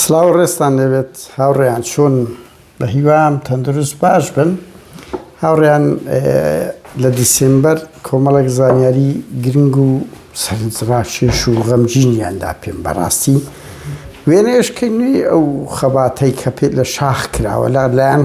سلاو ڕێستان لێبێت هاوڕێیان چۆن بە هیوام تەندروست باش بن هاوڕێیان لە دیسمبەر کۆمەڵێک زانیاری گرنگ و سەرنجڕاکێش و غەمجینیاندا پێم بەڕاستی وێنەشکردنی ئەو خەباتەی کە پێ لە شاخ کراوە لا لایەن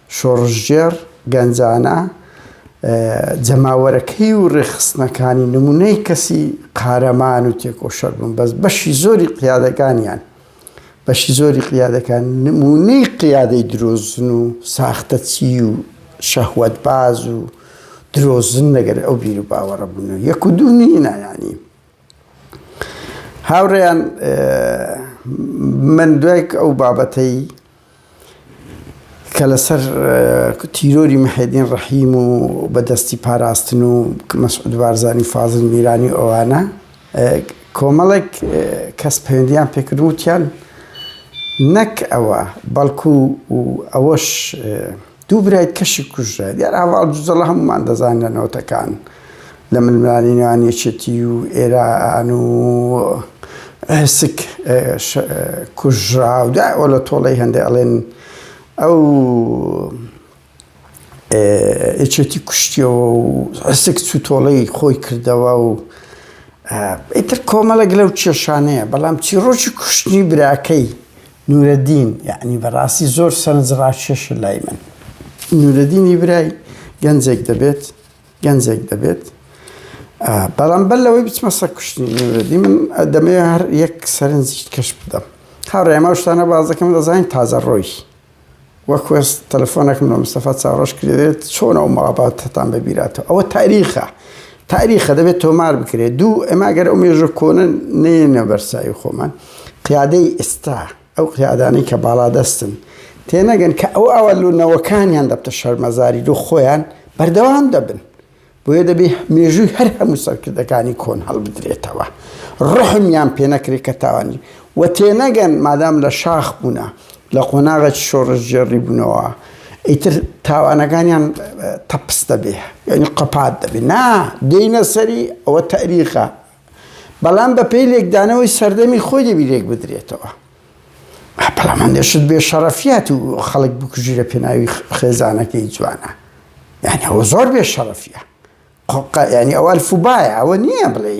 شۆڕشگێڕ، گەنجانە، جەماوەرەکەی و ڕێکخستنەکانی نموونەی کەسی قارەمان و تێکۆشەر بوون، بەس بەشی زۆری قیادەکانیان، بەشی زۆری قیادەکان نموونەی قیادەی درۆزن و ساختەچی و شەهوەتباز و درۆزن لەگەر ئەو بیروباوەڕە بوون و یەک و دوو نینە یانی. هاوڕێیان من دوای ئەو بابەتەی، کە لەسەر تیرۆری محێدین ڕەحیم و بە دەستی پاراستن و مەسعود بارزانی فازل میرانی ئەوانە کۆمەڵێک کەس پەیوەندیان پێکردن وتیان نەک ئەوە بەڵکو ئەوەش دوو برای کەشی کوژرا. دیار هەڤاڵ جوجەڵە هەموومان دەزانین لە نەوەتەکان لە ململانێی نێوان یەکێتی و ئێران و ئهسک کوژرا و دوای ئۆلە تۆڵەی هەندێ ئەڵێن ئەو یەکێتی کوشتیەوە و ئهسک چوو تۆڵەی خۆی کردەوە و ئیتر کۆمەڵێک لەو کێشانەیە بەڵام چیڕۆکی کوشتنی براکەی نورەدین یەعنی بەڕاستی زۆر سەرنج ڕاکێشە لای من نورەدینی برای گەنجێک دەبێت گەنجێک دەبێت بەڵام بەر لەوەی بچمە سە کوشتنی نورەدی من دەمێ هەر یەک سەرنج کەش بدەم هاڕێمە شتانە بازەکەم دەزانین تازە ڕۆیش وە کوێر تەلەفۆنەکم لە مستەفا چاوڕەش کرێت چۆن ئەو مەڵاباتتان بە بیراتەوە ئەوە تاریخە تاریخە دەبێت تۆمار بکرێت دوو ئەما گەر ئەو مێژە کۆنە نێنە بەرسایی خۆمان قیادەی ئێستا ئەو قیادانی کە باڵا دەستن تێنەگەن کە ئەو ئەوە لونەوەکانیان دەبتە شەرمەزاری دوو خۆیان بەردەوام دەبن بۆیە دەبێ مێژووی هەر هەموو سەرکردەکانی کۆن هەڵبدرێتەوە ڕحمیان پێنەکرێ کە تاوانی و تێنەگەن مادام لە شاخ بوونە لە قۆناغێکی شۆڕشگێڕی بوونەوە ئیتر تاوانەکانیان تەپس دەبێ یعنی قەپات دەبێ نا دێنە سەری ئەوە تاریخە بەڵام بە پێی لێکدانەوەی سەردەمی خۆی دەبی لێک بدرێتەوە بەڵام هەندێشت بێ شەڕەفیات و خەڵک بکوژی لە پێناوی خێزانەکەی جوانە یعنی ئەوە زۆر بێ شەڕەفیە ینی ئەوە الفوبایە ئەوە نییە بڵێ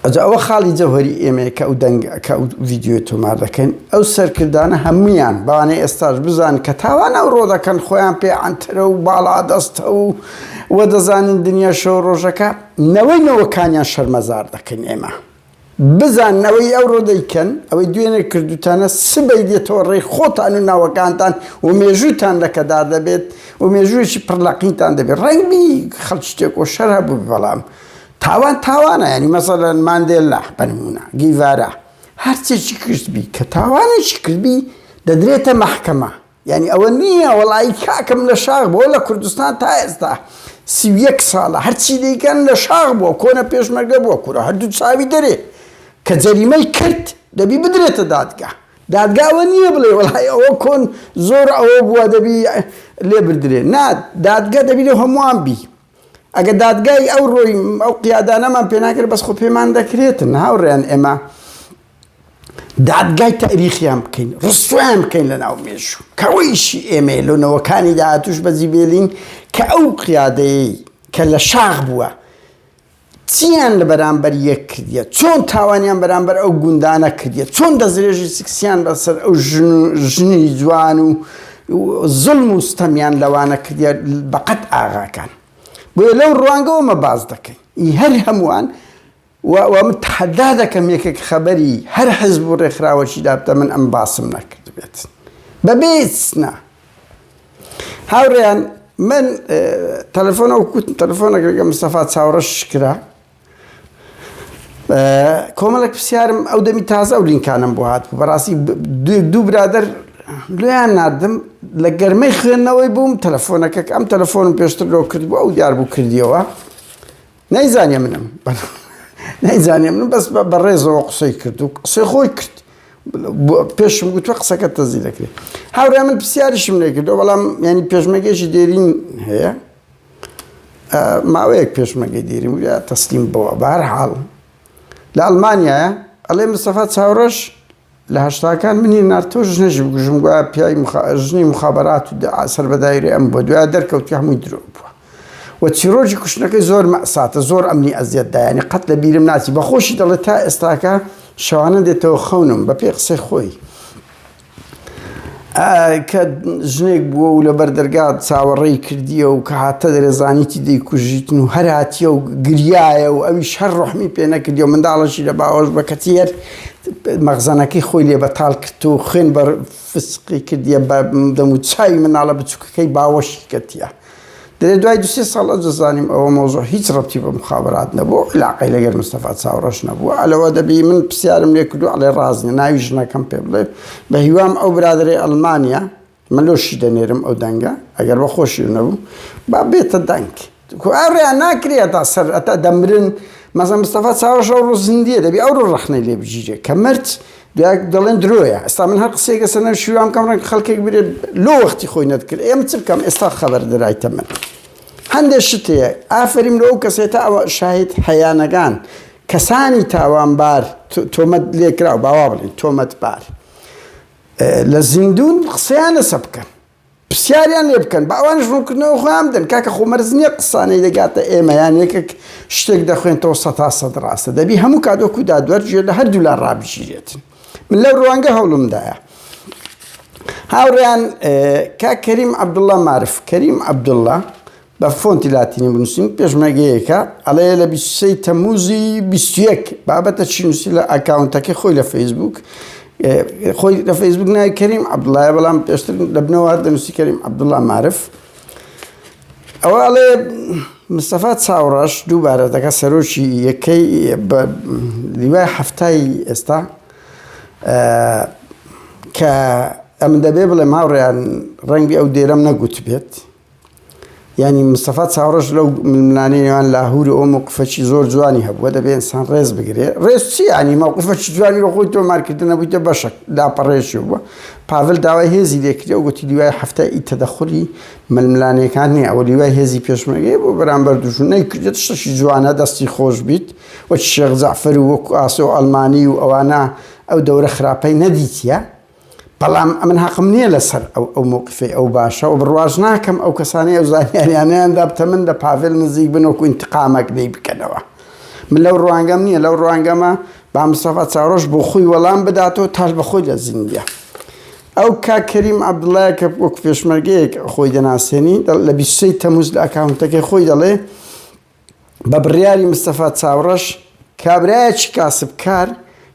ئەجا ئەوە خاڵی جەوهری ئێمەیەکە ئەو دەنگەکە و ڤیددیوی تۆمار دەکەین ئەو سەرکردانە هەمویان بەوانێ ئێستاش بزان کە تاوان ئەو ڕۆ دەکەن خۆیان پێ ئەترە و باڵا دەستە و وە دەزانین دنیا شەو ڕۆژەکە نەوەی نەوەکانیان شەرمەزار دەکەین ئێمە. بزانن ئەوەی ئەوڕۆ دەیکەن، ئەوەی دوێنێ کردووتانە، سبەی دێتەوە ڕێی خۆتان و ناوەکانتان و مێژووتان لەکەدار دەبێت و مێژوویەکی پڕ لە قینتان دەبێت. ڕەنگ بی خەڵکی تێکۆشەر هەبووبێت، بەڵام تاوان تاوانە، یانی مەسەلەن ماندێلا بە نموونە، گیڤارا، هەرچێکی کردبی، کە تاوانێکی کردبی دەدرێتە مەحکەمە. یانی ئەوە نییە وەڵایی کاکم لە شاخ بووە لە کوردستان تا ئێستا سی و یەک ساڵە هەرچی دەیکەن لە شاخ بووە کۆنە پێشمەرگە بووە کورە هەردوو چاوی دەرێ کە جەریمەی کرد دەبی بدرێتە دادگا دادگا ئەوە نییە بڵێ وەڵایی ئەوە کۆن زۆر ئەوە بووە دەبی لێبردرێ نا دادگا دەبی لە هەمووان بی. ئەگەر دادگای ئەو ڕۆی ئەو قیادانەمان پێناکرێت بەس خۆ پێمان دەکرێتن هاوڕێن ئێمە دادگای تاریخیان بکەین ڕستویان بکەین لە ناو مێژوو کەەوەیشی ئێمە لۆنەوەکانی داهاتوش بەجی بێلین کە ئەو قیادەیەی کە لە شاخ بووە چیان لە بەرامبەر یەک کردیە، چۆن تاوانیان بەرامبەر ئەو گوندانە کردیە، چۆن دەستدرێژی سکسیان بە سەر ئەو ژن و ژنی جوان و زوڵم و ستەمیان لەوانە کردیە بە قەد ئاغاکان. بۆیە لەو ڕوانگەوە مە باس دەکەین. ئی هەر هەمووان و و من تەحەدا دەکەم یەکێک خەبەری هەر حزب و ڕێکخراوەکی دابتە من ئەم باسم نەکردبێت. بە بێ ئیستنا. هاورێیان من تەلەفۆنە و کوت تەلەفۆنەکەگە مستەفا چاوڕە شکرا کۆمەڵک پرسیارم ئەو دەمی تازە و لینکانم بۆ هات بەڕاستی دوو برادر لێیان نردم لە گەرمەی خوێندنەوەی بووم تەلەفۆنەکەک ئەم تەلەفۆنم پێشتر لۆ کرد بۆ ئەو دیار بوو کردیەوە نەیزانێ منم نەیزانێ من بەس بە ڕێزەوە قسەی کرد و قسەی خۆی کرد پێشم گوتوە قسەکە تەزی دەکرێت هاورا من پرسیارشم لێکردەوە بەڵام ینی پێشمەگەشی دێرین هەیە ماوەیەک پێشمەگەی دێریم یا تەسلیم بەوە بارحاڵ لە ئەلمانیایە ئەڵێ مستەفا چاوڕەش لە هەشتاکان منی نارد تۆ ژنەژی بکوژم گوایە پیاوی مخا... ژنی مخابرات و دعا سەر بە دایرە ئەم بۆ دوای دەرکەوت کە هەمووی درۆ بووە و چیرۆکی کوشتنەکەی زۆر مەساتە زۆر ئەمنی ئەزیەت دایانی قەت لە بیرم ناچی بەخۆشی دەڵێت تا ئێستاکە شەوانە دێتەوە خەونم بە پێی قسەی خۆی کە ژنێک بووە و لە بەردەرگا چاوەڕێی کردیە و کە هاتە دەرێزانیتی دەیکوژیتن و هەراتیە و گریایە و ئەوی شەر ڕحمی پێ نەکردی و منداڵەشی لە باوەش بە کەچی هەر مەخزەنەکەی خۆی لێ بەتاڵ کرد و خوێن بە فسقی کردیە بە دەم و چاوی مناڵە بچووکەکەی باوەشی کەتیە. دەێ دوای دو سێ ساڵ ئەجە زانیم ئەوە مەوزوع هیچ ڕەبتی بە موخابەرات نەبوو، علاقەی لەگەر مستەفا چاوڕەش نەبوو، ئەلەوە دەبی من پرسیارم لێ کردوو ئەڵێ ڕاست نیە، ناوی ژنەکەم پێ بڵێ، بە هیوام ئەو برادەرەی ئەڵمانیا، من لۆشی دەنێرم ئەو دەنگە ئەگەر بە خۆشیو نەبوو با بێتە دەنگ کو ئەو ڕێیان ناکرێ هەتا سەر هەتا دەمرن مەزە مستەفا چاوەش ئەو ڕۆ زیندیە دەبی ئەو ڕۆ ڕەخنەی لێ بگیرێ کە مرد دوای دەڵێن درۆیە ئێستا من هەر قسەیەک لەسەر نەوشیروان شیروان بکەم ڕەنگە خەڵکێک برێت لۆ وەختی خۆی نەتکرد ئێمە چ بکەم ئێستا خەبەر درایتە من هەندێک شت هەیە ئافرین لەو کەسێت تا ئەوە شاهد هەیانەکان کەسانی تاوانبار تۆمەت لێکراو باوا بڵین تۆمەتبار لە زیندون قسەیان لەسە بکەن پسیاریان لێ بکەن با ئەوانیش ڕونکردنەوە خۆیان بدەن کاکە خۆ مەرج نیە قسانەی دەگاتە ئێمە یان یەکەک شتێک دەخوێنتەوە سەتا سەد ڕاستە دەبی هەموو کات وەکو دادوەر گوێ لە هەردوولا ڕابگیرێت من لەو ڕوانگە هەوڵمدایە هاوڕێیان کاک کەریم عەبدوڵڵا مارف کەریم عەبدوڵڵا بە فۆنتی لاتینی بنووسین پێشمەرگەیەکە ئەڵێ لە بیست و سێ ی تەممووزی بیست و یەک بابەتە چی نووسی لە ئەکاونتەکەی خۆی لە فەیسبووک خۆی لە فەیسبووک ناوی کەریم عەبدوڵایە بەڵام پێشتر لە بنەوە هەر دەنووسی کەریم عەبدوڵا مارف ئەوە ئەڵێ مستەفا چاوڕەش دووبارە دەکە سەرۆکی یەکەی بە لیوای هەفتای ئێستا کە ئەمن دەبێ بڵێ ماوڕیان ڕەنگی ئەو دێرەم نەگوت بێت یانی مستەفا چاوڕەش لەو ململانەی نێوان لاهور و ئەو موقفەکی زۆر جوانی هەبووە دەبێ ئینسان ڕێز بگرێ ڕێز چی ینی موقفەکی جوانی بە خۆی تۆمارکردن نەبوویتە بەشەک لاپەڕێکی بووە پاڤل داوای هێزی لێکرێ و گوتی دوای هەفتە ئی تەدەخولی ململانەکان نییە ئەوە دوای هێزی پێشمەرگەی بۆ بەرامبەر دوژمن نەیکردێت شتێکی جوانە دەستی خۆش بیت وەک شێخ جەعفەر و وەک ئاسۆ ئەڵمانی و ئەوانە ئەو دەورە خراپەی نەدیتیە بەڵام ئەمن هەقم نییە لەسەر ئەو ئەو موقفی ئەو باشە و بڕواش ناکەم ئەو کەسانی ئەو زانیاریانیان دابتە من لە پاڤێل نزیک بن وەکو ئینتقامەک دەی بکەنەوە من لەو ڕوانگەم نییە لەو ڕوانگەمە با مستەفا چاوڕەش بۆ خۆی وەڵام بداتەوە تاش بە خۆی لە زیندە ئەو کا کەریم عەبدوڵای کە وەک پێشمەرگەیەک خۆی دەناسێنی لە بیسەی تەموز لە ئەکاونتەکەی خۆی دەڵێ بە بڕیاری مستەفا چاوڕەش، کابرایەکی کاسبکار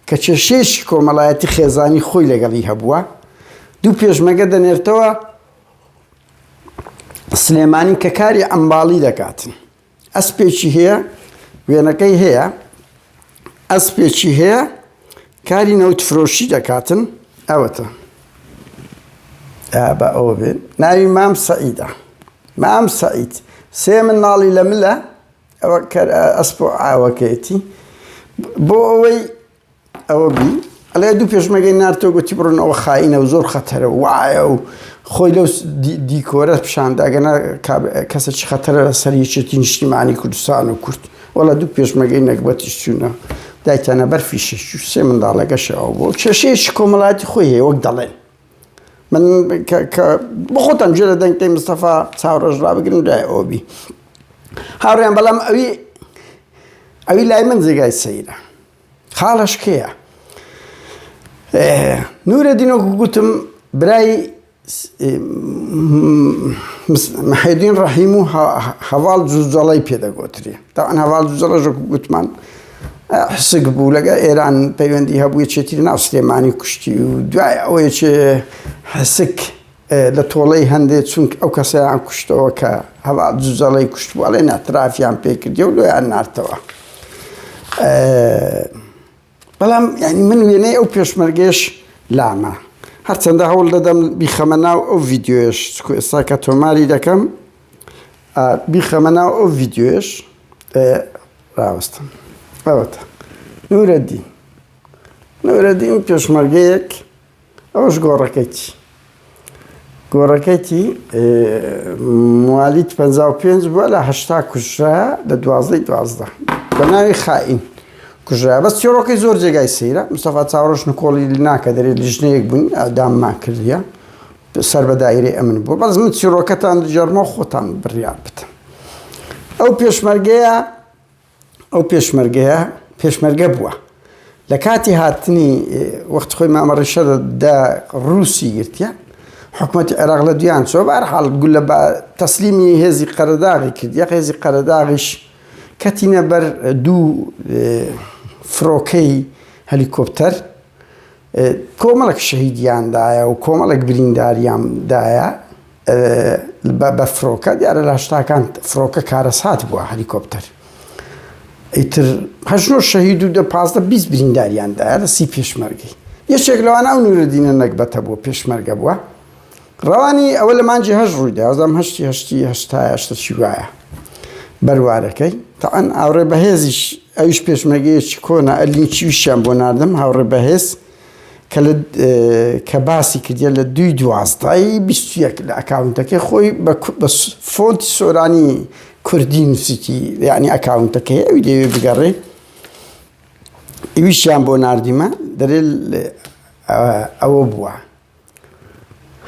کە کێشەیەکی کۆمەڵایەتی خێزانی خۆی لەگەڵی هەبووە، دوو پێشمەگە دەنێرتەوە سلێمانی کە کاری عەمماڵی دەکاتن. ئەسپێکی هەیە، وێنەکەی هەیە. ئەسپێکی هەیە کاری نەوت فرۆشی دەکاتن ئەوەتە بە ئەوە بێ ناوی مام سەعیدە مام سەعید سێ من ناڵی لە ملە ئەوە ئەسپ و ئاوەکەیەتی بۆ ئەوەی ئەوە بی ئەڵێ دوو پێشمەرگەی نارتۆ گوتی بڕۆن ئەوە خاینە و زۆر خەتەرە و وایە و خۆی لەو دیکۆرە پیشاندا گەنا کەسێکی خەتەرە لە سەر یەکێتی نیشتیمانی کوردستان و کورد وەڵا دوو پێشمەگەی نەگبەتیش چوونە دایتانە بەر فیشش و سێ منداڵەگەشەوە بۆ کێشەیەکی کۆمەڵاتی خۆی هەیە وەک دەڵێن من بخۆتان جێ لە دەنگی مستەفا چاوڕۆژ ڕابگرن دوای ئەوبی هاوڕێن بەڵام ئەوی ئەوی لای من جێگای سەیرە خاڵەش کێیە؟ نورەدین وەکو گوتم برای محێدین ڕەحیم و هەواڵ جوجەڵی پێدەگۆتری تاوان هەواڵ جوجەڵە ژەک گوتمان حسک بوو لەگە ئێران پەیوەندی هەبووی چێتی ناو سلێمانی کوشتی و دوای ئەوەیە چێ حسک لە تۆڵەی هەندێ چونک ئەو کەسەیان کوشتەوە کە هەوا جوجەڵەی کوشت بوو ئەڵێن ئەترافیان پێکردی و لۆیان نارتەوە بەڵام ینی من وێنەی ئەو پێشمەرگێش لامە هەرچەندە هەوڵ دەدەم بیخەمە ناو ئەو ڤیددیوێش چکو ئێستا کە تۆماری دەکەم بیخەمە ناو ئەو ڤیددیوێش ڕاوستم ئەوەتە نورەدی نورەدی و پێشمەرگەیەک ئەوەش گۆڕەکەیتی گۆڕەکەیتی موالیدی پەنجا و پێنج بووە لە هەشتا کوژرا لە دوازدەی دوازدە بە ناوی خائین کوژرا بەس چێڕۆکەی زۆر جێگای سەیرە مستەفا چاوڕۆژ نکۆڵی ناکە دەرێت لیژنەیەک بووین ئەداممان کردیە سەر بە دایرەی ئەمن بوو بەس من چیڕۆکەتان دژەرمە خۆتان بڕیان بتن ئەو پێشمەرگەیە ئەو پێشمەرگەیە پێشمەرگە بووە لە کاتی هاتنی وەخت خۆی مامە ڕیشە دە ڕووسی گرتە حکوومەتی عێراق لە دویان چۆ بار حاڵ گول لە تەسلیمی هێزی قەرداغی کرد یە هێزی قەرداغیش کەتینە بەر دوو فرۆکەی هەلیکۆپتەر کۆمەڵێک شەهیدیان دایە و کۆمەڵێک برینداریان دایە بە فرۆکە دیارە لاشتاکان فرۆکە کارەسات بووە هەلیکۆپتەر ئیتر هەژنۆ شەهید و دە پازدە بیست برینداریان دایە لە سی پێشمەرگی یەکێک لەوانە و نورەدینە نەگبەتە بووە پێشمەرگە بووە ڕەوانی ئەوە لە مانگی هەشت ڕوویدا، وازدەم هەشتی هەشتی هەشتایە شتەکی وایە بەروارەکەی، تەعەن ئاوڕێ بەهێزیش ئەویش پێشمەرگەیەکی کۆنە ئە لینکیوشیان بۆ ناردم هاوڕێ بەهێز کە لە کە باسی کردیە لە دووی دوازدەی بیست و یەک لە ئەکاونتەکەی خۆی بە بە فۆنتی سۆرانی کوردی نووسیتی یعنی ئەکاونتەکەی ئەوی لێوێ بگەڕێ ئیویشیان بۆ ناردیمە دەرێ ئەوە بووە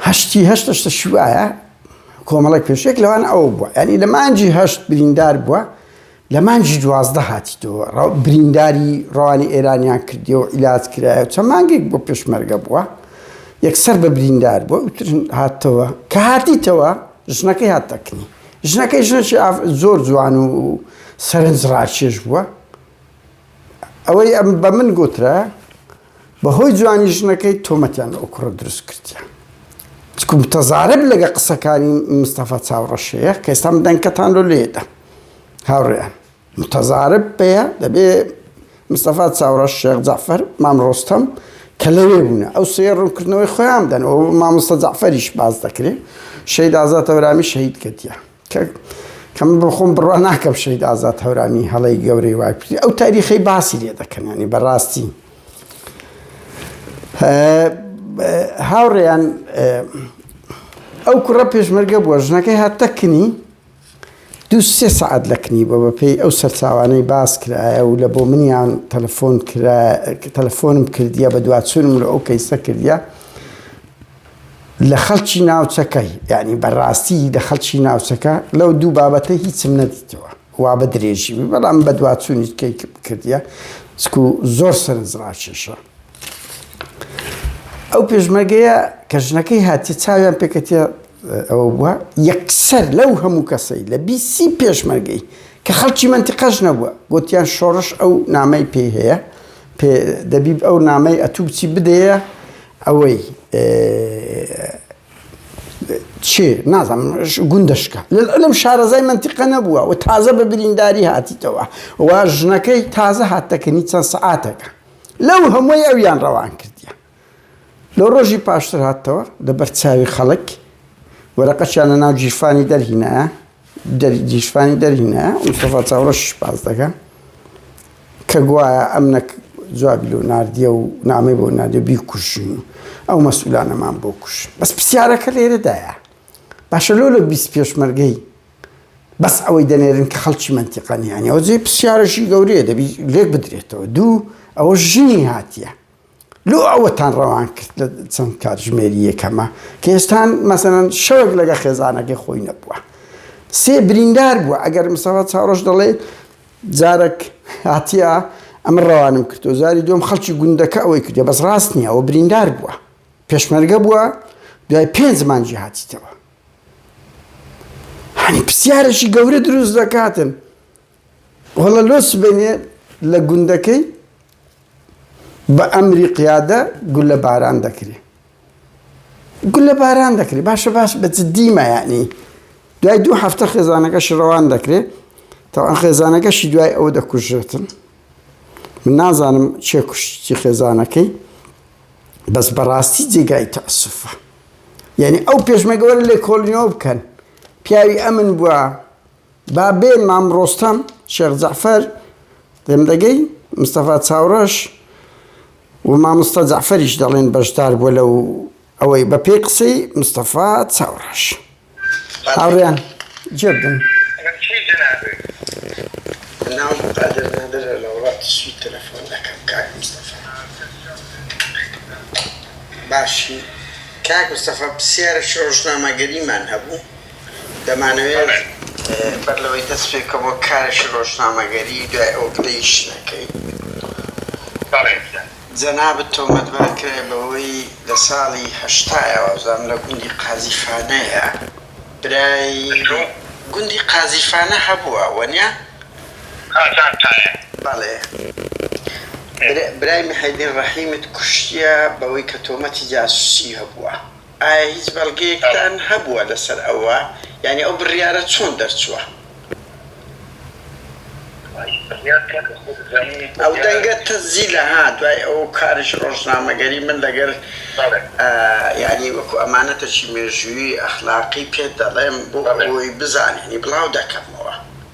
هەشتی هەشت هەشتە شوایە کۆمەڵێک پێشێک لەوان ئەو بووە ینی لە مانجی هەشت بریندار بووە لە مانجی دوازدە هاتیتەوە برینداری ڕوانی ئێرانیان کردی و ئیلاات کرایە چە مانگێک بۆ پێشمەرگە بووە یەکسەر بە بریندار بۆ ئوتر هاتەوە کە هاتیتەوە ژنەکەی هاتەکنی ژنەکەی ژنەی زۆر جوان و سەرنج ڕاکێش بووە ئەوەی ئەم بە من گوترە بەهۆی جوانی ژنەکەی تۆمەتیان لە ئەو کوڕە دروست کردیە چکو متەزارب لەگە قسەکانی مستەفا چاوڕەشەیە کە ئێستا من دەنکەتان لۆ لێدا هاوڕێیان متەزارب پێە دەبێ مستەفا چاوڕەش شێخ جعفەر مام ڕۆستەم کە لەوێ بوونە ئەو سێ ڕوونکردنەوەی خۆیان دەن ئەو مامۆستا جعفەریش باز دەکرێت شەید ئازاتەورامی شەید کردیە کە کەم بۆ خۆم بڕوا ناکەم شەید ئازاد هەورامی هەڵەی گەورەی وای کوردی ئەو تاریخی باسی لێ دەکەنانی بەڕاستی هاوڕێیان ئەو کوڕە پێشمەرگە بووە ژنەکەی هاتەکنی دو سێ سعات لەکنی بۆ بەپێی ئەو سەرچاوانەی باس کرایە و لە بۆ منیان تەلفۆن تەلفۆنم کردیە بە دوواچونم لە ئەو کەیسە کردە لە خەڵکی ناوچەکە یانی بە ڕاستی لە خەڵکی ناوچەکە لەو دوو بابەتە هیچم نەدیتەوە وا بە درێژی بەڵام بەدواچوونی کەی کردە سکو زۆر سەرنج ڕاکێشە ئەو پێشمەرگەیە کە ژنەکەی هاتی چاویان پێکەتە ئەوە بووە یەکسەر لەو هەموو کەسەی لە بیسی پێشمەرگەی کە خەڵکی منتیقەش نەبووە گوتیان شۆڕش ئەو نامەی پێی هەیە دەبیب ئەو نامەی ئەتوو بچی بدەیە ئەوەی چێ نازم گوندەشکە لەلم شارەزای منتیقە نەبووە و تازە بە برینداری هاتیتەوە و ژنەکەی تازە هاتەکەنی چەند سەعاتەکە لەو هەمووی ئەویان ڕەوان کردیە لە ڕۆژی پاشتر هاتەوە لە بەرچاوی خەڵک وەرەقەشیان لە ناو جیرفانی دەرهینایە دەریشفانی دەرهینا مستەفا چاوڕەشیش باس دەکا کە گوایە ئەمنەک جوابی لۆ ناردیە و نامەی بۆ نادێ بیکوژین و ئەو مەسولانەمان بۆ کوش بەس پرسیارەکە لێرەدایە باشە لۆ لە بیست پێشمەرگەی بەس ئەوەی دەنێرن کە خەڵکی منتیقانیانەوە جێ پرسیارەشی گەورەیە دەبی لێک بدرێتەوە دوو ئەوە ژنی هاتیە لۆ ئەوەتان ڕەوان کرد لە چەند کاتژمێری یەکەمە کە هێشتان مەسەلەن شەوێک لەگە خێزانەکەی خۆی نەبووە سێ بریندار بووە ئەگەر مسەوە چاڕۆژ دەڵێ جارەک هاتیە ئەمە ڕەوانم کردو جاری دوم خەڵکی گوندەکە ئەوەی کردێ بەس ڕاست نییە ئەوە بریندار بووە پێشمەرگە بووە دوای پێنج مانجی هاتیتەوە هەنی پرسیارێکی گەورە دروست دەکاتن وەڵا لۆ سبەینێ لە گوندەکەی بە ئەمری قیادە گولە باران دەکرێ گولە باران دەکرێ باشە باش بە جدیمە یعنی دوای دوو هەفتە خێزانەکە شڕەوان دەکرێ تاوان خێزانەکەشی دوای ئەو دەکوژێتن من نازانم چێ کوشتی خێزانەکەی بەس بەڕاستی جێگای تەسفە یعنی ئەو پێشمەگەوەر لێ کۆلنیۆ بکەن پیاوی ئەمن بووە با بێ مام ڕۆستەم، شێخ جەعفەر، دەمدەگەی، مستەفا چاوڕەش و مامۆستا جەعفەریش دەڵێن بەشدار بووە لەو ئەوەی بە پێی قسەی مستەفا چاوڕەش. هاوڕێیان جێ بدەن. من کێ جەنابت؟ ناوم قادر نادرە لە وڵاتی سوید تەلەفۆن دەکەم کاک مستەفا. باشی کاک مستەفا پرسیارێک ڕۆژنامەگەریمان هەبوو دەمانەوێت بەر لەوەی دەست پێکە بۆ کارێکی ڕۆژنامەگەری دوای ئەو پلەیش نەکەین جەنابت تۆمەتبار کرای بەوەی لە ساڵی هەشتا یاوازدام لە گوندی قازیفانەیە برای گوندی قازیفانە هەبووە وەنیا؟ قازانتایە بەڵێ برای محێدین ڕەحیمت کوشتیە بەوەی کە تۆمەتی جاسوسی هەبووە ئایا هیچ بەڵگەیەکتان هەبووە لەسەر ئەوە؟ یانی ئەو بڕیارە چۆن دەرچووە؟ ئەو دەنگە تەزیلە ها دوای ئەو کارش ڕۆژنامەگەری من لەگەر یانی وەکو ئەمانەتەکی مێژووی ئەخلاقی پێت دەڵێم بۆ ئەوەی بزانێنی بڵاو دەکەمەوە.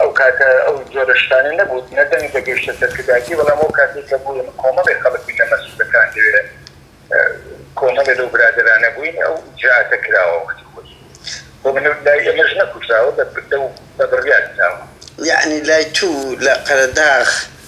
ئەو کاتە ئەو جۆرە شتانە نەبوو، نە دەنگ دەگەیشتە سەرکردایەتی، بەڵام ئەو کاتەی کە بووین کۆمەڵێ خەڵک بووین لە مەسعودەکان لەوێ کۆمەڵێ لەو برادەرانە بووین ئەو ئیجرائاتە کراوە وەختی خۆی بۆ من لای ئێمەش نەکوژراوە لەو بە بڕیار دراوە. یەعنی لای توو لە قەرەداغ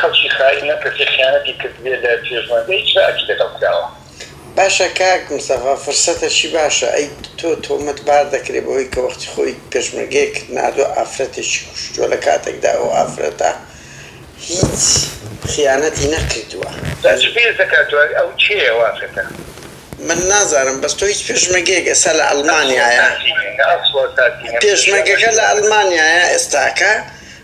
خەڵکی خائین ئەم کەسەی خیانەتی کردبێ لە پێشمەرگە هیچ ناکەی لەگەڵ کراوە. باشە کاک مستەفا فرسەتەکی باشە ئەی تۆ تۆمەت بار دەکرێ بەوەی کە وەختی خۆی پێشمەرگەیەکت ناردوە ئافرەتێکی کوشتوە لە کاتێکدا ئەو ئافرەتە هیچ خیانەتی نەکردوە. جا چ پێست دەکات دوای ئەو کێیە ئەو ئافرەتە. من نازانم بەس تۆ هیچ پێشمەرگەیەک ئێستا لە ئەلمانیایە پێشمەرگەکە لە ئەلمانیایە ئێستاکە.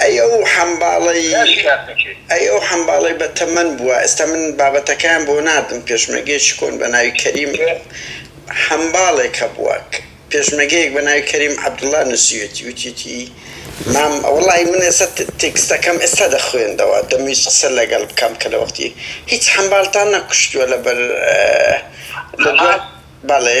ئەی ئەو حەمباڵەی ئەی ئەو حەمباڵەی بە تەمەن بووە ئێستا من بابەتەکەیان بۆ ناردم پێشمەرگەیەکی کۆن بە ناوی کەریم حەمباڵێک هەبووە پێشمەگەیەک بە ناوی کەریم عەبدوڵا نووسیوێتی وتیوتی مام وەڵای من ئێستا تێکستەکەم ئێستا دەخوێندەوە دەمویست قسە لەگەڵ بکەم کە لە وەختی هیچ حەمباڵتان نەکوشتووە لەبەر بەڵێ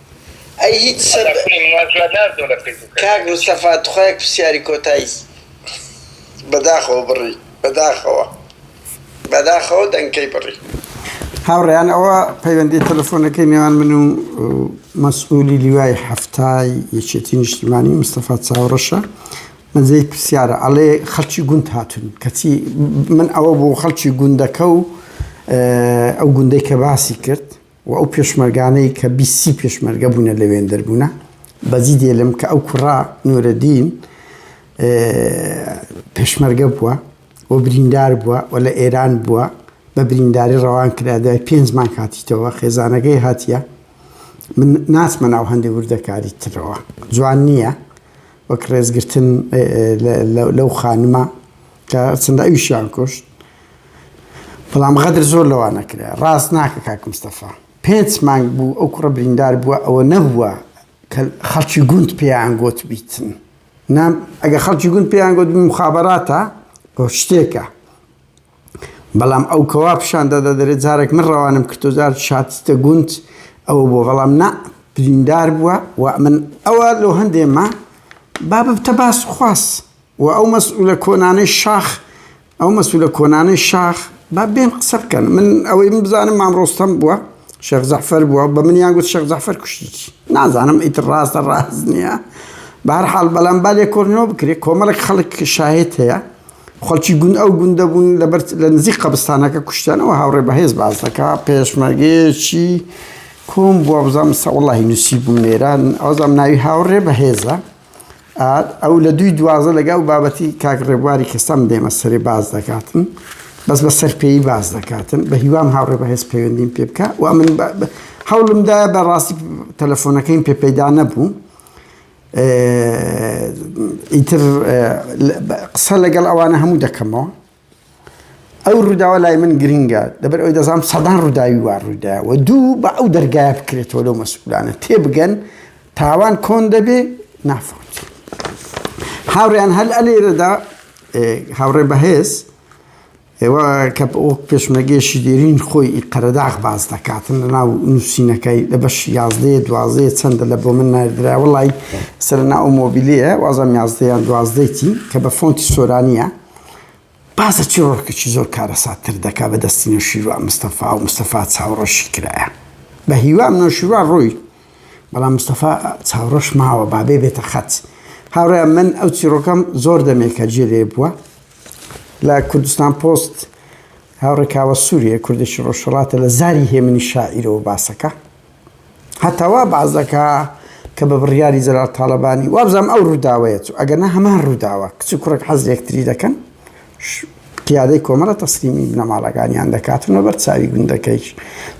ئەی هیچ سەب. کاک مستەفا تخوا یەک پرسیاری کۆتای بەداخەوە بڕی بەداخەوە بەداخەوە دەنکەی بڕی. هاوڕێیان ئەوە پەیوەندی تەلەفۆنەکەی نێوان من و مەسئولی لیوای حەفتای یەکێتی نیشتیمانی مستەفا چاوڕەشە من جێی پرسیارە ئەڵێ خەڵکی گوند هاتون کەچی من ئەوە بۆ خەڵکی گوندەکە و ئەو گوندەی کە باسی کرد و ئەو پێشمەرگانەی کە بیست سی پێشمەرگە بوونە لەوێن دەربوونە بەجی دێلم کە ئەو کوڕا نورەدین پێشمەرگە بووە و بریندار بووە و لە ئێران بووە بە برینداری ڕەوان کرا دوای پێنج مانگ هاتیتەوە خێزانەکەی هاتیە من ناچمە ناو هەندێک وردەکاری ترەوە جوان نییە وەک ڕێزگرتن لەو خانمە کە چەندە ئەویشیان کوشت بەڵام غەدر زۆر لەوانە کرا. ڕاست ناکە کاک مستەفا. پێنچ مانگ بوو ئەو کوڕە بریندار بووە ئەوە نەبووە کە خەڵکی گوند پێیان گۆتبیتن نا ئەگە خەڵکی گوند پێیان گۆت مخابەراتە بۆ شتێکە. بەڵام ئەو کەوا پیشان دەدا دەرێت جارێک من ڕەوانم کردۆ جار شاتتە گوند ئەو بۆ بەڵام نا بریندار بووە و من ئەوە لۆ هەندێمە بابتە باس خواست. وە ئەو مەسئولە کۆنانەی شاخ ئەو مەسئولە کۆنانەی شاخ با بێن قسە بکەن من ئەوەی من بزانم مام ڕۆستەم بووە شێخ جەعفەر بووە بە منیان گوت شێخ جەعفەر کوشتیی نازانم ئیتر ڕاستە ڕاست نییە بە هەر حاڵ بەلام با لێکۆڵینەوە بکرێ کۆمەڵێک خەڵک کە شاهێد هەیە خەڵکی گوند ئەو گوندە بوون لەبەر لە نزیک قەبستانەکە کوشتیانەوە هاوڕێ بەهێز باس دەکا پێشمەرگەیەکی کۆم بووە بزانم سە وڵی نووسی بوو نێران ئەوزانام ناوی هاوڕێ بەهێزە ئەو لە دووی دوازدە لەگە ئەو بابەتی کاک ڕێبواری کە سەم دێمە سەرێ باز دەکاتن بەس بە سەرپێی باز دەکاتن بە هیوام هاوڕێ بە هێز پەیوەندیم پێ بکە و من هەوڵمدا بە ڕاستی تەلەفۆنەکەیم پێ پەیدا نەبوو ئیتر قسە لەگەڵ ئەوانە هەموو دەکەمەوە ئەو ڕووداوە لای من گرنگە لەبەر ئەوەی دەزانم سەدان ڕووداوی وا ڕوویدایە و دوو بە ئەو دەرگایە بکرێتەوە لەو مەسئولانە تێبگەن تاوان کۆن دەبێ نافۆت هاوڕێیان هەل ئەلێرەدا هاوڕێ بەهێز ئێوە کە ئۆک پێشمەگەشی دێرین خۆی قەرەداغ باز دەکاتن لە ناو نووسینەکەی لە بەش یازدەیە دوازەیە چەندە لە بۆ من نردرا وڵی سەر ناو مۆبیلەیە وازم یازدەیان دوازدەیتی کە بە فۆنتی سۆرانە بازە چیڕۆکێکی زۆر کارەسات تر دەکا بە دەستی نەوشیروان مستەفا و مستەفا چاوڕەشی کرایە بە هیوام نەوشیروان ڕووی بەڵام مستەفا چاوڕەش ماوە بابێ بێتە خەت هاوڕێ من ئەو چیڕۆکەم زۆر دەمێکە جێ لێ بووە لە کوردستان پۆست هاوڕێکاوە سووریە کوردێکی ڕۆژهڵاتە لە زاری هێمنی شاعیرەوە باسەکە هەتا وا باس دەکا کە بە بڕیاری جەلال تاڵەبانی وابزانم ئەو ڕووداوەیە چوو ئەگەرنا هەمان ڕووداوە کچ و کوڕێک حەز یەکتری دەکەن قیادەی کۆمەڵە تەسلیمی بنەماڵەکانیان دەکات و لەبەر چاوی گوندەکەیش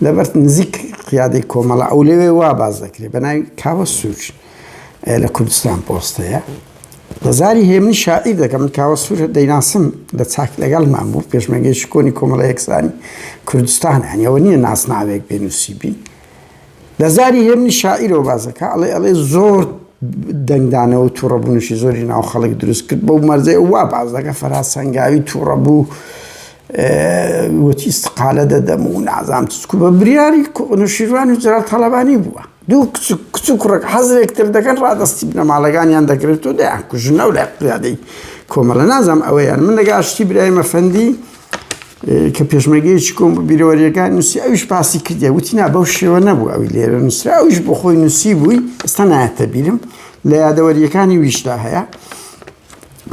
لەبەر نزیک قیادەی کۆمەڵە ئەو لەوێ وا باز دەکرێت بە ناوی کاوە سوور لە کوردستان پۆستەیە زاری هێمنی شاعیر دەکەم، من کاوە سوور دەیناسم لە چاک لەگەڵمان بوو، پێشمەرگەی شکۆنی کۆمەڵە یەکسانی کوردستان، هەنی ئەوە نییە ناسناوێک بێ نووسیبی. لە زاری هێمنی شاعیرەوە بازەکە، ئەڵێ ئەڵێ زۆر دەنگدانەوە و تووڕەبوونیشی زۆری ناو خەڵک دروست کرد، بەو مەرجەی ئەو وا باس دەکا فەرهاد سەنگاوی تووڕەبوو، وتی ئیستقالە دەدەم و نازانم چ، چکو بە بریاری نووشیروان و جەلال تاڵەبانی بووە. دوو کچ و کوڕک حەزێک تر دەکەن ڕادەستی بنەماڵەکانیان دەگرێت و دەیان کوژن ئەو لە قیادەی کۆمەڵە نازانم ئەوەیان من لەگە شتی برایمە فەندی کە پێشمەگەیەکی کۆم بیرەوەریەکان نووسی ئەوش پاسی کردی وتی نا بەو شێوە نەبوو ئەوی لێرە نووسرا ئەوش بۆ خۆی نووسی بووی ئستا نایەتە بیرم لە یادەوەریەکانی ویشدا هەیە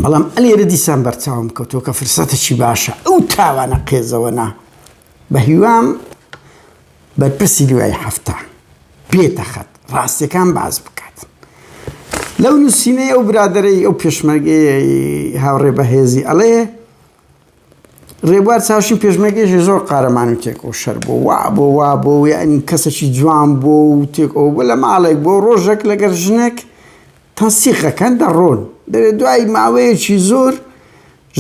بەڵام ئەلێرە دیسان بەرچاوم کەوتۆ کە فرسەتەکی باشە ئەو تاوانە قێزەوە نا بە هیوام بەرپرسی دوای حەفتا بێتە خەت ڕاستیەکان باس بکات لەو نوسینەی ئەو برادەرەی ئەو پێشمەرگەی هاوڕێ بەهێزی ئەڵێ ڕێبوار چاوشی پێشمەرگێژی زۆر قارەمان و تێکۆ شەر بۆ وا بۆ وا بۆ یعنی کەسەکی جوان بۆ و تێکۆ بۆ لە ماڵێک بۆ ڕۆژێک لەگەر ژنێک تەسیقەکەن دەڕۆن دەێ دوای ماوەیەکی زۆر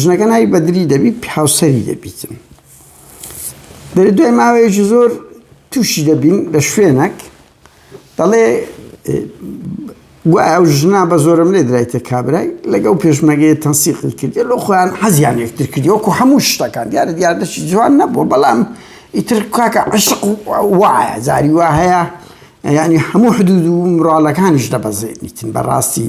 ژنەکە ناوی بەدری دەبیت هاوسەری دەبیتن دەێ دوای ماوەیەکی زۆر تووشی دەبین لە شوێنەک دەڵێ ئەو ژنا بە زۆرم لێ درایتە کابرای لەگەڵ پێشمەگەی تەنسیقی کردی لۆ خۆیان حەزیان یەکتر کردی وەکو هەموو شتەکان دیارە دیاردەشی جوان نەبوو بەڵام ئیتر کاکە عشق وایە زاری وا هەیە ینی هەموو حدود و مراڵەکانیش دەبەزێنیتن بەڕاستی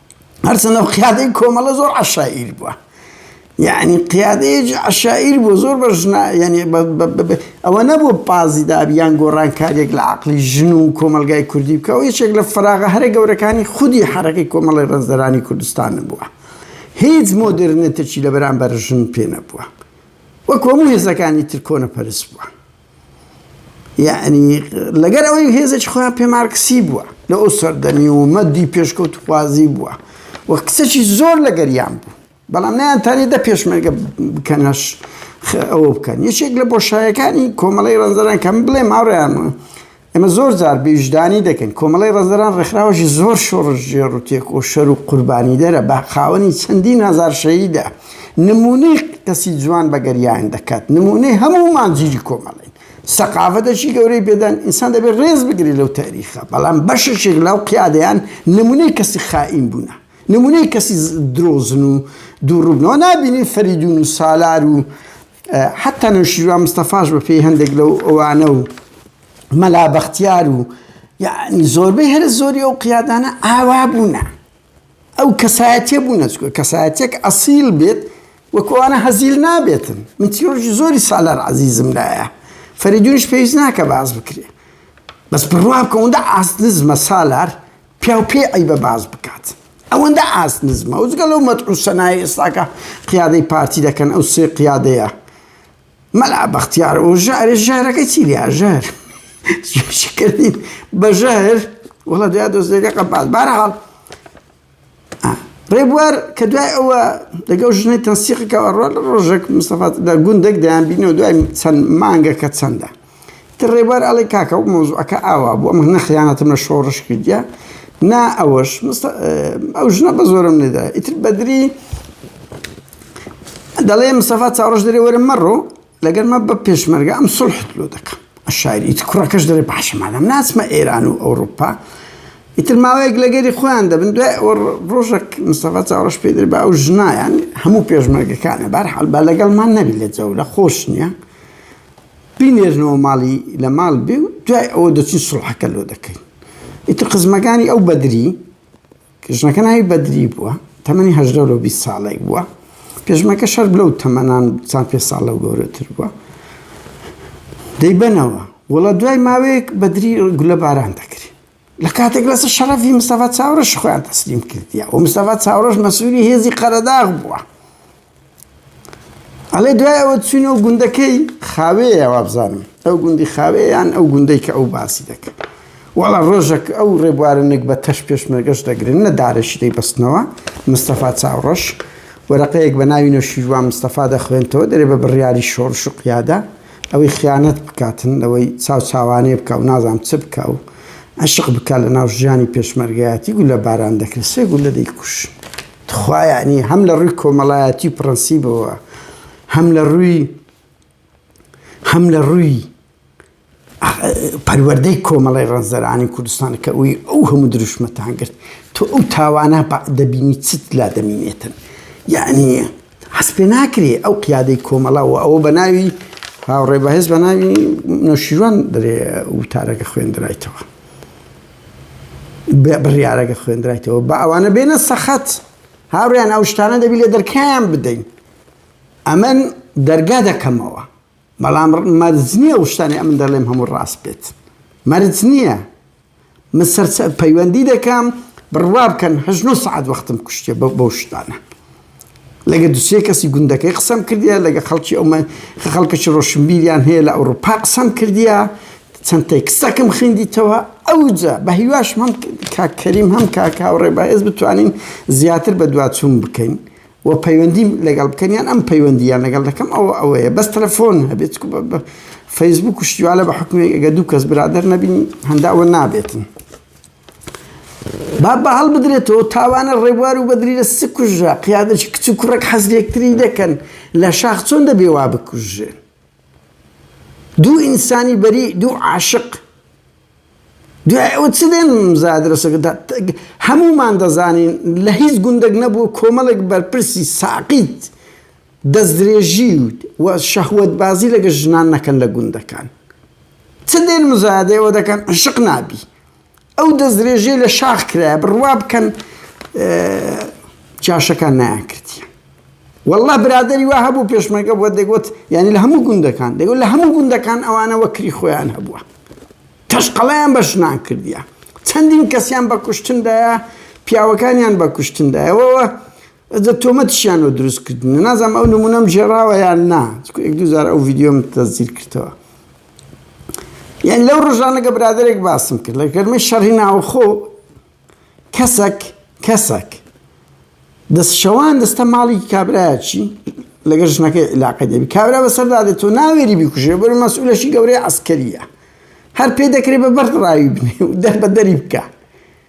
هەرچەندە قیادەی کۆمەڵە زۆر عەشائیر بووە یعنی قیادەیەکی عەشائیر بوو زۆر بە ژنا یعنی ئەوە نەبوو پازی دابی یان گۆڕانکاریێک لە عقلی ژن و کۆمەلگای کوردی بکەەوە یەکێک لە فراغە هەرە گەورەکانی خودی حرەکەی کۆمەڵی ڕێزدەرانی کوردستان بووە هیچ مۆدررنێتەکی لە بەرامبەر ژن پێ نەبووە وەک هەموو هێزەکانی تر کۆنە پەرست بووە یەعنی لەگەر ئەوەی هێزێکی خۆیان پێ مارکسی بووە لە ئەو سەردەمی و مەدی پێشکەوتخوازی بووە و کچەکی زۆر لەگەریان بوو بەڵام نیان تانی دە پێشمەرگە بکەنەش ئەوە بکەن یەکێک لە بۆشایەکانی کۆمەڵی ڕەنجەران کەم بڵێ ماڕیان ئێمە زۆر جار بیژدانی دەکەین کۆمەڵی ڕزدەران ڕێکخراوەشی زۆر شۆڕش ژێڕ و تێک و شەر و قوربانی دەرە بە خاوەنی چەندین هەزار شەیدە نمونەی کەسی جوان بە گەریان دەکات نمونەی هەموو مانجیری کۆمەڵی سەقاڤەتەشی گەورەی پێدان ئینسان دەبێت ڕێز بگری لەو تاریخە بەڵام بەشێک لەو قیادەیان نمونەی کەسی خائین بوونە نمونەی کەسی درۆزن و دووڕوبنەوە نبینین فەریدون و سالار و حەتتا نەوشیروان مستەفاش بە پێی هەندێک لەو ئەوانە و مەلا بەختیار و یعنی زۆربەی هەرە زۆری ئەو قیادانە ئاوا بوونە ئەو کەسایەتە بوونە چکە کەسایەتێک ئەسیل بێت وەکوانە هەزیل نابێتن من تیۆرژی زۆری سالار عزیزم لایە فەریدونش پێویست ناکە باز بکرێ بەس بڕوا بکەوندا ئاست نزمە سالار پیاو پێی عەیبە باس بکات ئەوەندە ئاست نزمە ئەوجگە لەو مەدح و سەنای ئێستاکە قیادەی پارتی دەکەن ئەو سێ قیادەیە مەلا بەختیار و ژارێ ژارەکە چی لیا ژار کردین بە ژەهر وڵە دیا دۆستێکە قەپات بارحاڵ ڕێبوار کە دوای ئەوە لەگەڵ ژنەی تەنسیقەکەەوە ڕۆ لە ڕۆژێک مستەفات لە گوندێک دەیان بینەوە دوای چەند مانگە کە چەندە تر ڕێبوار ئەڵی کاکە و مۆزوعەکە ئاوا بوو ئەمە نەخیانەتم لە شۆڕش کردە نا ئەوەش ئەو ژنە بە زۆرم نێدا ئیتر بەدری دەڵێ مستەفا چاڕۆژ دەێ وەرە مەڕۆ لەگەر مە بە پێشمەرگە ئەم سوڵحت لۆ دەکەم عەشایری ئیتر کوڕەکەش دەرێ باشە مادام ناچمە ئێران و ئەوڕوپا ئیتر ماوەیەک لەگەری خۆیان دەبن دوای ئەوە ڕۆژێک مستەفا چاوڕەش پێ دەرێ بە ئەو ژنایان هەموو پێشمەرگەکانە بەرحاڵ با لەگەڵمان نەبی لە جەولە خۆش نییە بینێرنەوە ماڵی لە ماڵ بێ و دوای ئەوە دەچین سوڵحەکە لۆ دەکەین ئیتر قزمەکانی ئەو بەدری ژنەکە ناوی بەدری بووە، تەمەنی هەژدە لۆ بیست ساڵێک بووە، پێشمەکەش هەر لەو تەمەنان چەند پێنج ساڵ لەو گەورەتر بووە. دەیبەنەوە، وەڵا دوای ماوەیەک بەدری گولەباران دەکرێ. لە کاتێک لەسەر شەڕەفی مستەفا چاوڕەشی خۆیان تەسلیم کردیە و مستەفا چاوڕەش مەسوولی هێزی قەرەداغ بووە. ئەڵێ دوای ئەوە چوینەوە گوندەکەی خاوێیە وابزانم ئەو گوندی خاوێیان ئەو گوندەی کە ئەو باسی دەکەن وەڵا ڕۆژێک ئەو ڕێبوارە نەک بە تەش پێشمەرگەش دەگرن نە دارەشی دەی بەستنەوە مستەفا چاوڕەش وەرەقەیەک بە ناوی نەوشیروان مستەفا دەخوێنتەوە دەرێ بە بڕیاری شۆڕش و قیادە ئەوەی خیانەت بکاتن لەوەی چاو چاوانێ بکە و نازام چ بکە و عشق بکە لە ناو ژیانی پێشمەرگایەتی گولە باران دەکرێت سێ گولە دەیکوش تخوا یەعنی هەم لە ڕووی کۆمەڵایەتی و پڕەنسیبەوە هەم لە ڕووی هەم لە ڕووی پەروەردەی کۆمەڵی ڕەنجدەرانی کوردستان کە ئەوی ئەو هەموو دروشمەتان کرد تۆ ئەو تاوانە دەبینی چت لا دەمینێتن یعنی حەس پێ ناکرێ ئەو قیادەی کۆمەڵا و ئەوە بە ناوی هاوڕێ بەهێز بە ناوی نەشیوان دەرێ وتارەکە خوێندرایتەوە بڕیارەکە خوێندرایتەوە با ئەوانە بێنە سەخت هاوڕیان ئەو شتانە دەبی لە دەرکیان بدەین ئەمن دەرگا دەکەمەوە بەڵام مەرج نییە ئەو شتانی ئەمن دەڵێم هەموو ڕاست بێت مەرج نییە من سەر پەیوەندی دەکەم بڕوا بکەن هەژن و سعات وەختم کوشتێ بەو شتانە لەگە دوسێ کەسی گوندەکەی قسەم کردیە لەگە خەڵکی ئەو خەڵکەکی ڕۆشنبیریان هەیە لە ئەوروپا قسەم کردیە چەند تێکستەکەم خوێندیتەوە ئەوجا بە هیواشم هەم کاک کەریم هەم کاک هاوڕێ بەهێز بتوانین زیاتر بە دواچوون بکەین و پەیوەندیم لەگەڵ بکەن یان ئەم پەیوەندیان لەگەڵ دەکەم ئەوە ئەوەیە بەس تەلەفۆن هەبێت چکو بە- بە- فەیسبوک و شتیوالە بە حکومێک ئەگە دوو کەس برادەر نەبین هەنداوە نابێتن با با هەڵبدرێتەوە تاوانە ڕێبوار و بەدری لە سک کوژرا قیادەی کچ و کوڕێک حەز لەیەکتری دەکەن لە شاخ چۆن دەبێ وا بکوژرێن دوو ئینسانی بەری دوو عاشق دوای ئەوە چ دێن زادرەسەکە هەمومان دەزانین لە هیچ گوندێک نەبوو کۆمەڵێک بەرپرسی ساقیت دەستدرێژی و شەهوت بازی لەگە ژنان نەکەن لە گوندەکان چ دێن مزادەوە دەکەن عشق نابی ئەو دەستدرێژیەی لە شاخ کرایە بڕوا بکەن جاشەکان نایان کردیە والله برادری وا هەبوو پێشمەرگە بووە دەگوت یعنی لە هەموو گوندەکان دەگوت لە هەموو گوندەکان ئەوانە وەکری خۆیان هەبووە تەشقەڵیان بە ژنان کردیە چەندین کەسیان بە کوشتندایە پیاوەکانیان بە کوشتندایەوەوە ئەجە تۆمەتیشیان لۆ دروست کردنە نازانم ئەو نمونەم ژێراوە یان نا چکو یەک دوزار ئەو ڤیددیۆم تەزیر کردەوە یان لەو ڕژانەگە برادێک باسم کرد لە گەرمی شەڕی ناوخۆ کەسەک کەسەک دەست شەوان دەستە ماڵی کابراچی لەگە ژنەکەی علاقە دەبی کابرا بەسەردا دێت تۆ ناوێری بیکوژێ بەر مەسئولەشی گەورەی عسکەریە هەر پێ دەکرێت بە بەرد ڕاوی بنێ و دەر بە دەری بکە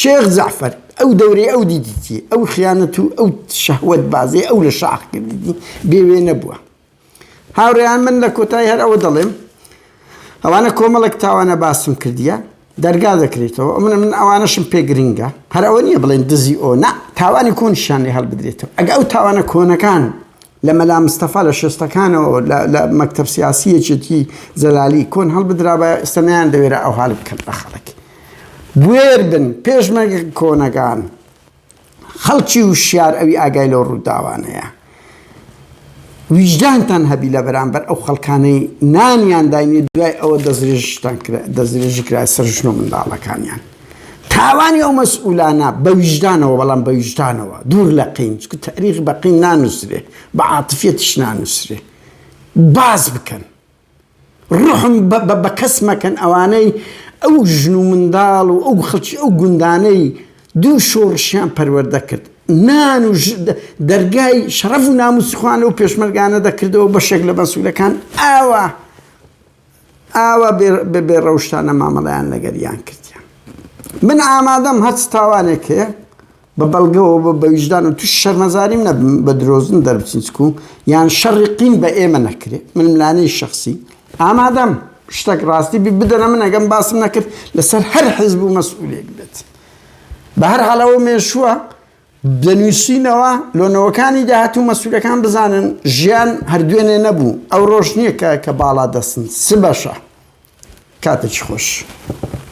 شێخ جەعفەر ئەو دەورەی ئەو دیدیی، ئەو خیانەت و ئەو شەهوەت بازیەی ئەو لە شاخ کردیی بێ وێنە بووە. هاوڕێیان من لە کۆتایی هەر ئەوە دەڵێم، ئەوانە کۆمەڵێک تاوانە باسم کردیە، دەرگا دەکرێتەوە، ئەمنە من ئەوانەشم پێ گرنگە، هەر ئەوە نیە بڵێن دزی ئۆ، نا، تاوانی کۆنیشیان لێ هەڵبدرێتەوە، ئەگە ئەو تاوانە کۆنەکان لە مەلا مستەفا لە شێستەکانەوە لە مەکتەب سیاسی یەکێتی جەلالی کۆن هەڵبدرابایە ئێستا نەیان دەوێرا ئەو هەل بکەن بە خەڵک بوێر بن پێشمەرگە کۆنەکان خەڵکی وشیار ئەوی ئاگای لەو ڕووداوانەیە ویژدانتان هەبی لە بەرامبەر ئەو خەڵکانەی نانیان داینی دوای ئەوە دەستێژتان دەستێژی کرای سەر ژن و منداڵەکانیان تاوانی ئەو مەسئولانە بە ویژدانەوە بەڵام بە ویژدانەوە دوور لە قین چونکە تاریخ بە قین نانووسرێ بە عاتفیەتیش نانووسرێ باس بکەن ڕحم بە کەس مەکەن ئەوانەی ئەو ژن و منداڵ و ئەو خەڵکی ئەو گوندانەی دوو شۆڕشیان پەروەردە کرد نان و دەرگای شەڕەف و ناموسخوانە و پێشمەرگانە دەکردەوە بەشێک لە بەسوولەکان ئاوە ئاوا بە بێ ڕەوشتانە مامەڵەیان لەگەر یان کردیان من ئامادەم هەرچ تاوانێک هەیە بە بەڵگەوە بە بە ویژدان و توش شەرمەزاریم نەبم بە درۆزن دەربچین چکو یان شەڕی قین بە ئێمە نەکرێ من ملانەی شەخسی ئامادەم شتەک ڕاستی بی بدەنە من ئەگەم باسم نەکرد لەسەر هەر حیزب و مەسئولێک بێت بە هەر حاڵەوە مێشووە دەنووسینەوە لۆ نەوەکانی داهاتوو مەسولەکان بزانن ژیان هەر دوێنێ نەبوو ئەو ڕۆژ نییە کە کە باڵا دەستن سبەشە کاتێکی خۆش.